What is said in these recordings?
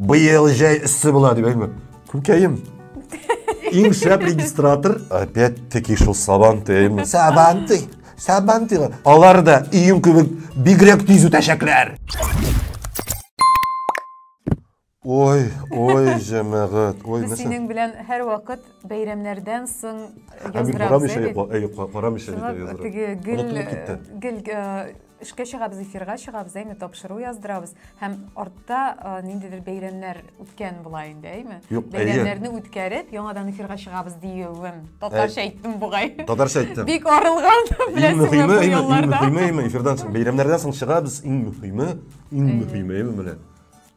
Быел җәй эссе була дип әйтмә. Күкәем. Иң шәп регистратор. Опять таки шул Сабанты әйме? Сабанты. Сабанты. Алар да июнь кебек бигрәк тиз үтәчәкләр. Ой, ой, җәмәгать. Ой, Без синең белән һәр вакыт бәйрәмнәрдән соң яздырабыз. Ә мин карамыйча, карамыйча. Теге гел, гел эшкә чыгабыз, эфирга чыгабыз, әйме, тапшыру яздырабыз һәм артта э, ниндидер бәйрәмнәр үткән була инде, әйме? Юк, бәйрәмнәрне үткәреп, яңадан эфирга чыгабыз диюем. Татарча әйттем бугай. Татарча әйттем. Бик арылган. Иң мөһиме, иң мөһиме, эфирдан соң бәйрәмнәрдән соң чыгабыз, иң мөһиме, иң мөһиме, әйме, менә.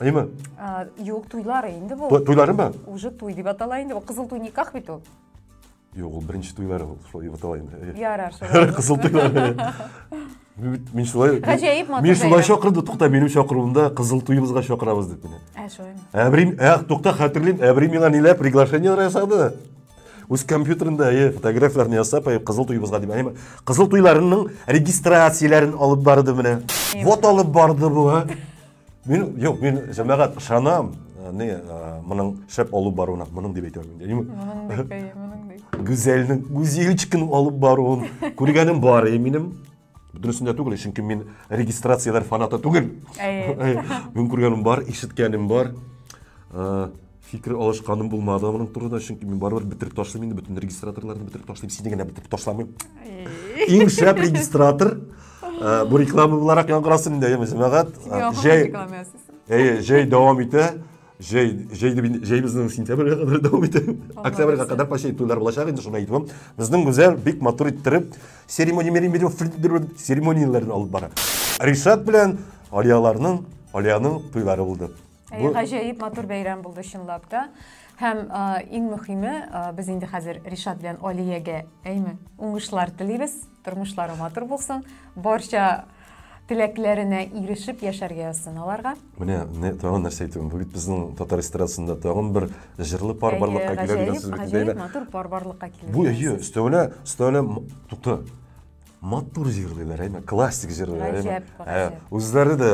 Әйме? Юк, туйлары инде бу. Туйлары ма? Уже туй дип атала инде. Кызыл туй никах бит ул. Юк, ул беренче туйлары ул, шулай дип атала инде. Ярар, шулай. Кызыл туйлары. Мин шулай. Гаҗәеп матур. Мин шулай чакырды, тукта минем чакыруымда кызыл туйыбызга чакырабыз дип менә. Ә шулаймы? Әбрим, ә тукта хәтерлим, Әбрим миңа ниләр приглашение ясады. Үз компьютерында әйе фотографияләрне ясап, әйе кызыл туйыбызга дип. Әйе, кызыл туйларының регистрацияләрен алып барды менә. Вот алып барды бу, ха. Мин, юк, мин җәмәгать ышанам. Э, не, э, моның шәп алып баруына, моның дип әйтәм. Моның дип әйтәм, моның дип. Гүзәлнең гүзелчкин алып баруын күргәнем бар и минем. Дөресендә түгел, чөнки мин регистрацияләр фаната түгел. Әйе. Мин күргәнем бар, ишеткәнем бар. Э, Фикер алышканым булмады аның турында, чөнки мин барыбер бетереп ташлыйм инде, бөтен регистраторларны бетереп ташлыйм, сине генә бетереп ташламыйм. Иң шәп регистратор. Э, бу реклама буларак яңгырасын инде, әйеме, җәмәгать? Э, җәй, әйе, җәй дәвам итә. Җәй, җәйде, җәй безнең сентябрьгә кадәр дәвам итә. Октябрьгә кадәр почти туйлар булачак инде, шуны әйтүем. Безнең гүзәл бик матур иттереп, церемония мери мери церемонияләрен алып бара. Ришат белән Алияларның, Алияның туйлары булды. Бу... Гаҗәеп матур бәйрәм булды чынлап та. Һәм ә, иң мөхиме, ә, без инде хәзер Ришат белән Алиягә әйме, уңышлар телибез, тормышлары матур булсын, барча теләкләренә ирешеп яшәргә язсын аларга. Менә не тагын нәрсә әйтүем, бу бит безнең татар эстрадасында тагын бер җырлы пар барлыкка килә дигән сүз бит. Гаҗәеп матур пар барлыкка килә. Бу өйе, өстәвенә, өстәвенә, тукта, матур җырлыйлар әйме классик җырлыйлар әйме гаҗәп үзләре дә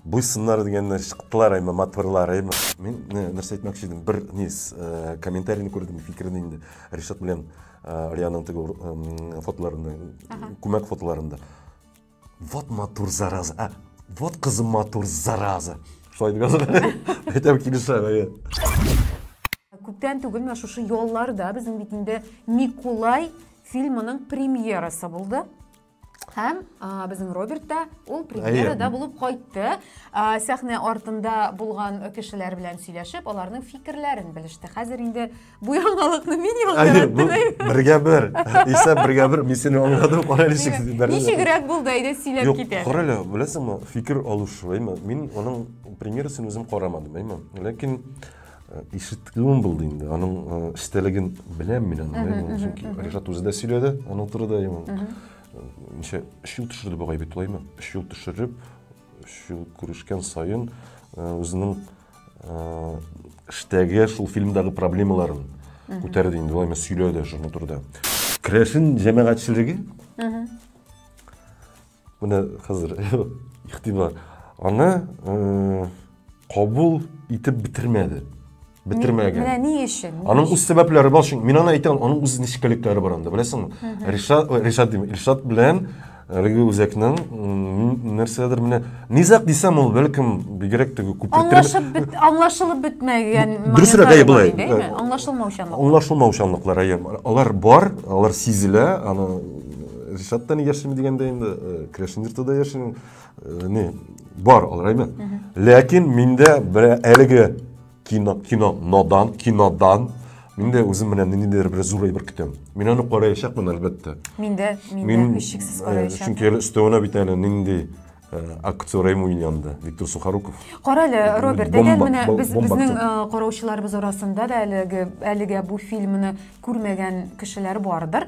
буйсыннар дигәннәр чыктылар әйме матурлар әйме мин нәрсә әйтмәкче идем бер ни э, комментарийны күрдем фикерне инде ришат белән э, рианың теге э, фотоларында күмәк фотоларында вот матур зараза а вот кызы матур зараза шулай дигәнсең әйтәм килешәм күптән түгел менә шушы ялларда безнең бит инде микулай фильмының премьерасы булды һәм ә, безнең Роберт та ул премьерада Әйе. булып кайтты. Ә, сәхнә артында булган кешеләр белән сөйләшеп, аларның фикерләрен белеште. Хәзер инде бу яңалыкны мин Әйе, бу яңгыраттым. бергә бер. Исә бергә бер. Мин сине аңладым. Кара ничек бер. Ничегрәк булды, әйдә сөйләп Юк, китә. кара әле, беләсеңме, фикер алышу, әйме. Мин аның премьерасын үзем карамадым, әйме. Ләкин Э, ишетүем булды инде аның э, эчтәлеген беләм мин аны чөнки ришат үзе дә сөйләде аның турыда э, ничә өч ел төшерде бугай бит олаймы өч ел төшереп өч ел күрешкән саен үзенең эштәге шул фильмдагы проблемаларын күтәрде инде олаймы сөйләде шуның турыда керәшен җәмәгатьчелеге Менә хәзер ихтибар. Аны кабул итеп бетермәде. Бетермәгән. Менә ни өчен? Аның үз сәбәпләре бар, чөнки мин аны әйтәм, аның үз нечкәлекләре бар анда, беләсеңме? Ришат, Ришат дим, Илшат белән әлеге үзәкнең нәрсәдер менә низак дисәм ул бәлкем бигрәк теге күпертер аңлашылып бетмәгән дөресрәк әйе былай аңлашылмаучанлык аңлашылмаучанлыклар әйе алар бар алар сизелә аны Ришат та нигә яшим дигәндә инде керәшен йорты да яшим. Ни, бар ул раймен. Ләкин миндә әлеге кино, кино, нодан, кинодан Миндә үзем менә ниндидер бер зур әйбер көтәм. Мин аны караячакмын, әлбәттә. Миндә, миндә һичшиксез караячакмын. Чөнки әле өстәвенә бит әле нинди актер Раймун янында, Виктор Сухоруков. Кара әле, Роберт, әгәр менә без, безнең караучыларыбыз арасында да әлеге, әлегә бу фильмны күрмәгән кешеләр бардыр.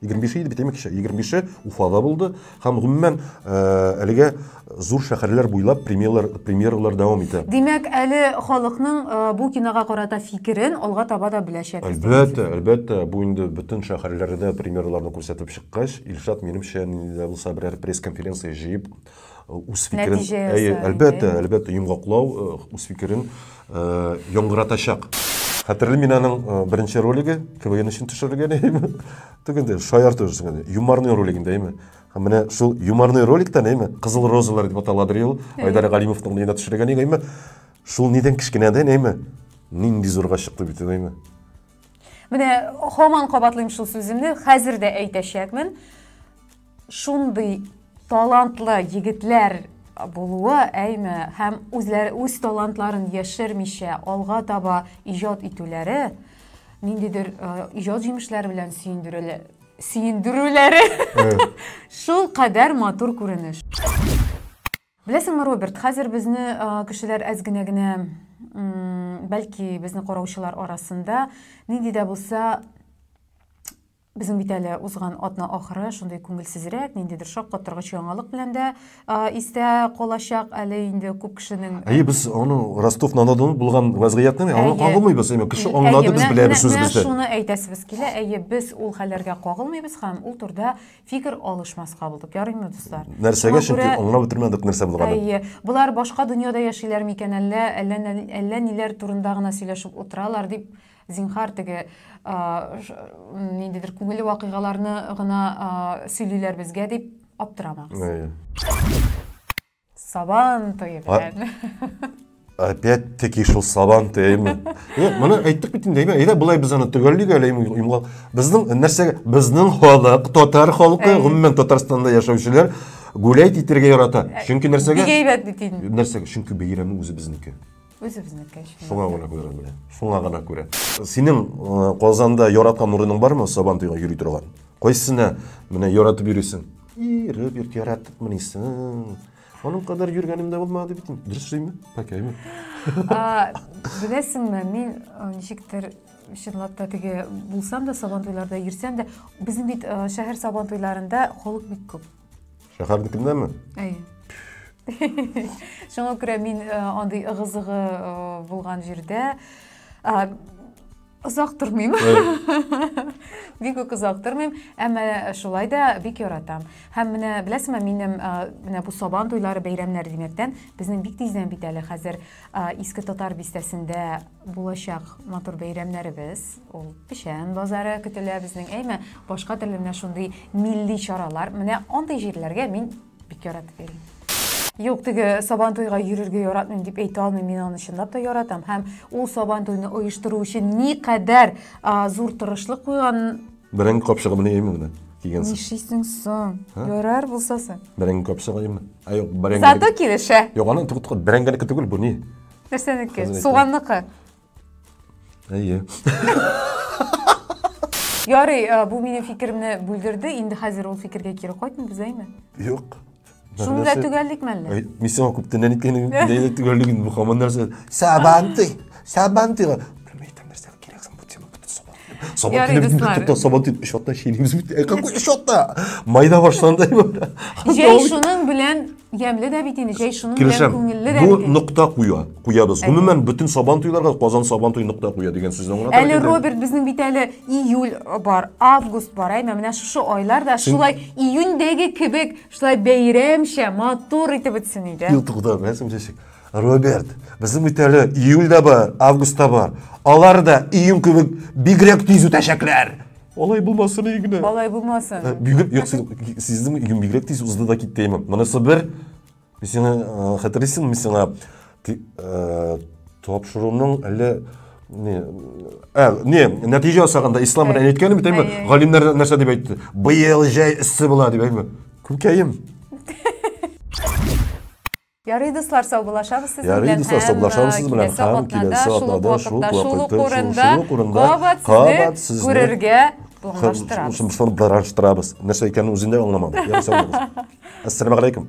25 иде бит әйме кеше 25 уфада булды һәм гомумән э, әлегә зур шәһәрләр буйлап премьерлар премьерлар дәвам итә димәк әле халыкның э, бу кинога карата фикерен алга таба да беләчәк әлбәттә әлбәттә бу инде бөтен шәһәрләрдә премьерларны күрсәтеп чыккач илшат минемчә нинди дә булса берәр пресс конференция җыеп үз фикерен әйе әлбәттә әлбәттә йомгаклау үз фикерен яңгыратачак хәтерлим мин аның беренче ролигы квн өчен төшерелгән түгенде шаярту юморный ролигында әйме һәм менә шул юморный роликтан әйме кызыл розалар дип аталадыр ел айдар галимовның нигә төшерелгән әйме шул нидән кечкенәдән әйме нинди зурга чыкты бит әйме менә хаман кабатлыйм шул сүземне хәзер дә әйтәчәкмен Шундый талантлы егетләр булуы әйме һәм үзләр үз талантларын яшермичә алга таба иҗат итүләре ниндидер иҗат җимешләре белән сөендерелә сөендерүләре шул кадәр матур күренеш. Беләсеңме, Роберт, хәзер безне кешеләр әз генә генә, бәлки, безне караучылар арасында нинди дә булса Безнең бит әле узган атна ахыры шундый күңелсезрәк, ниндидер шаккатыргыч яңалык белән дә истә калачак әле инде күп кешенең. Әйе, без аны Ростов на Дону булган вазгыятьне аңа кагылмыйбыз, әмма кеше аңлады, без беләбез үзебезне. Менә шуны әйтәсебез килә, әйе, без ул хәлләргә кагылмыйбыз һәм ул турыда фикер алышмаска булдык, ярыймы, дуслар? Нәрсәгә чөнки аңлап бетермәдек нәрсә булганын. Әйе. Болар башка дөньяда яшиләр микән әллә, әллә әллә ниләр турында гына сөйләшеп утыралар дип зинхар теге ниндидер күңелле вакыйгаларны гына сөйлиләр безгә дип аптырамагыз. Әйе. Сабан туе белән. Опять-таки шул сабан туеме? Е, моны әйттек бит инде, әйбә. Әйдә болай без аны төгәллик әле йомгал. Безнең нәрсәгә? Безнең халык, татар халкы, гомумән Татарстанда яшәүчеләр гулять итәргә ярата. Чөнки нәрсәгә? Бигәйбәт бит инде. Нәрсәгә? Чөнки бәйрәме үзе безнеке. Үзебезнеке. Шуңа гына күрә менә. Шуңа гына күрә. Синең э, Казанда яраткан урының бармы Сабан туйга йөри торган? Кайсына менә яратып йөрисең? Ире бирт яратып мынисың. Аның кадәр йөргәнем дә булмады бит. Дөрес сөйме? Пакәйме? Беләсеңме, мин э, ничектер чынлап та теге булсам да сабан туйларда йөрсәм дә, безнең бит э, шәһәр сабан туйларында халык бик күп. Шәһәрнекендәме? Әйе. Шуңа күрә мин э, андый ыгы-зыгы э, булган җирдә озак тормыйм. Бик үк озак тормыйм, әмма шулай да бик яратам. Һәм менә беләсеңме, минем э, менә бу сабан туйлары, бәйрәмнәр димәктән, безнең бик тиздән бит әле хәзер иске татар бистәсендә Булачак матур бәйрәмнәребез, ул печән базары көтелә безнең, әйме, башка төрле менә шундый милли чаралар. Менә андый җирләргә мин бик яратып йөрим. Юк, теге сабан туйга йөрергә яратмыйм дип әйтә алмыйм, мин аны чынлап та яратам һәм ул сабан туйны оештыру өчен никадәр зур тырышлык куйган. Бәрәңге капчыгы белән йөйме генә? дигәнсең. Нишлисең соң? Ярар булса соң. Бәрәңге капчыгы йөйме? Ә юк, бәрәңге. Зато килешә. Юк, аны тотка бәрәңгенеке түгел бу, ни? Нәрсәнеке? Суганныкы. Әйе. Ярый, э, бу минем фикеремне бүлдерде. Инде хәзер ул фикергә кире кайтмыйбыз, әйме? Юк. Шуны да төгәллик мәллә? Мин сиңа күптәннән әйткәнем, нәйлә төгәллек инде бу хаман нәрсә. Сабанты, сабанты. Белмәй там нәрсә кирәк соң бу тема бит сабан. Сабан килеп бит тотта сабан дип эш атта шилебез бит. Ә какой эш атта? Майда башланды. Җәй шуның белән Ямьле дә бит инде, җәй шуның белән күңелле дә. Бу нокта куя, куябыз. Гомумән бөтен сабан туйларга Казан сабан туй нокта куя дигән сүзне аңлата. Әле Роберт безнең бит әле июль бар, август бар, әйме, менә шушы айлар да шулай июньдәге кебек, шулай бәйрәмчә, матур итеп үтсен иде. Ил тугда, рәсем чәчек. Роберт, безнең бит әле июль дә бар, август та бар. Алар да июнь кебек бигрәк тиз үтәчәкләр. Алай булмасын иек генә. Алай булмасын. Бигрәк юк, син сиздең июнь бигрәк тиз узды да китте имам. Монысы бер. Мин сиңа э, хәтерлисеңме, мин сиңа ти- э, тапшыруның әллә не ә, не нәтиҗә ясаганда ислам белән әйткәнем бит, әйе. әйме? Галимнәр нәрсә дип әйтте? Быел җәй эссе була дип әйме? Күкәем. Ярый, дуслар, саубуллашабыз сезнең белән. Ярый, дуслар, саубуллашабыз сезнең белән. Һәм киләсе атнада шул вакытта, шул ук урында кабат сезне күрергә планлаштырабыз. Шуны шуны планлаштырабыз. Нәрсә икәнен үзем дә аңламадым. Ярый, саубуллашабыз. Ассаламу алейкум.